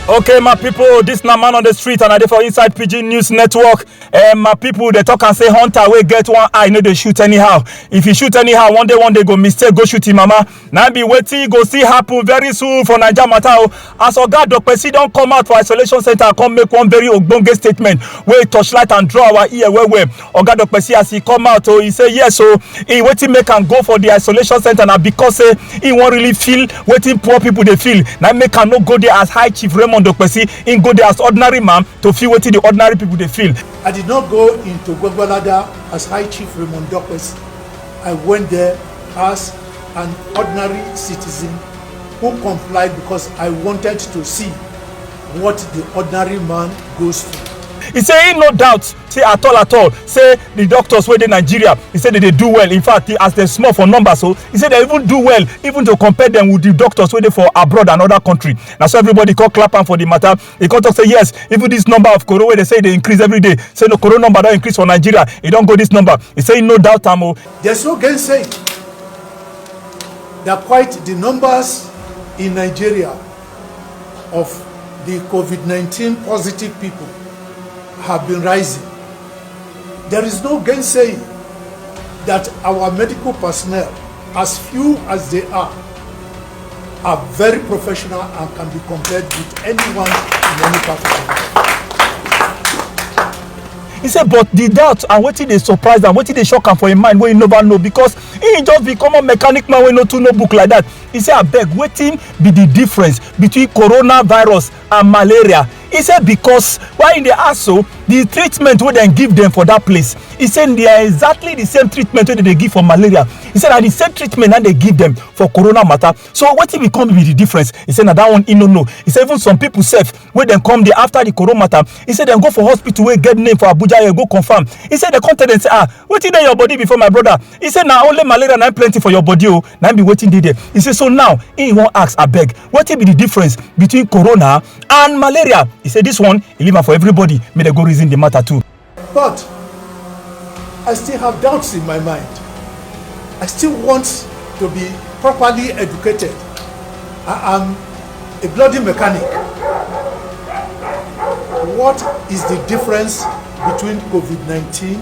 okay my people this na man on the street and i dey for inside pidgin news network um, my people dey talk am say hunter wey get one eye no dey shoot anyhow if you shoot anyhow one day one day go mistake go shoot him mama na be wetin you go see happen very soon for naija matter o as oga dokpesi don come out for isolation centre come make one very ogbonge statement wey torchlight and draw our ear well well oga dokpe see as e come out o e say yes o e wetin make am go for di isolation centre na because say e wan really feel wetin poor pipo dey feel na im make am no go there as high chief raymond dokpesi im go there as ordinary man to feel wetin di ordinary pipo dey feel. I did not go into Gwagwalada as High Chief Raymond Dokpes. I went there as an ordinary citizen who complied because I wanted to see what the ordinary man goes through He say he no doubt say at all at all say the doctors wey dey nigeria he say they dey do well in fact as dem small for numbers so he say they even do well even to compare them with the doctors wey dey for abroad and other country na so everybody come clap am for the matter he come talk say yes even this number of koro wey dey say e dey increase every day say no koro number don increase for nigeria e don go this number he say he no doubt am o. there's no gainsaying that quite the numbers in nigeria of di covid nineteen positive pipo have been rising there is no gainsaying dat our medical personnel as few as dey are are very professional and can be compared with anyone in any part of the world. He said, but the doubt and wetin dey surprise am, wetin dey shock am for im mind wey he never know because he just be common mechanic man wey no too know book like that. He say abeg wetin be the difference between coronavirus and malaria? He say because why he dey ask so the treatment wey dem give dem for that place he say they are exactly the same treatment wey dem dey give for malaria he say na the same treatment na dey give dem for corona matter so wetin be come be the difference he say na that one he no know he say even some people sef wey dem come dey after the corona matter he say dem go for hospital wey get name for abuja here go confirm he say dem come tell dem say ah wetin dey your body before my brother He say na only malaria na plenty for your body o, oh, na be wetin dey there. He say so now he wan ask abeg wetin be the difference between corona and malaria? He say this one he leave am for everybody make dem go reason the matter too. But I still have doubts in my mind. I still want to be properly educated. I am a bloody mechanic. What is the difference between COVID-19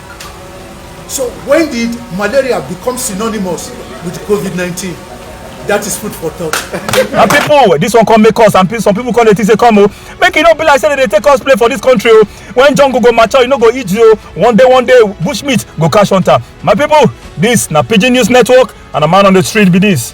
So when did malaria become synonymous with COVID-19? That is food for thought. and people, this one come make us, and some people call it is a come. Oh. Make it not be like say they take us play for this country. Oh. When John go go mature, you know go eat you. Oh. One day, one day, bush meat go cash hunter. My people, this na Pigeon News Network, and a man on the street be this.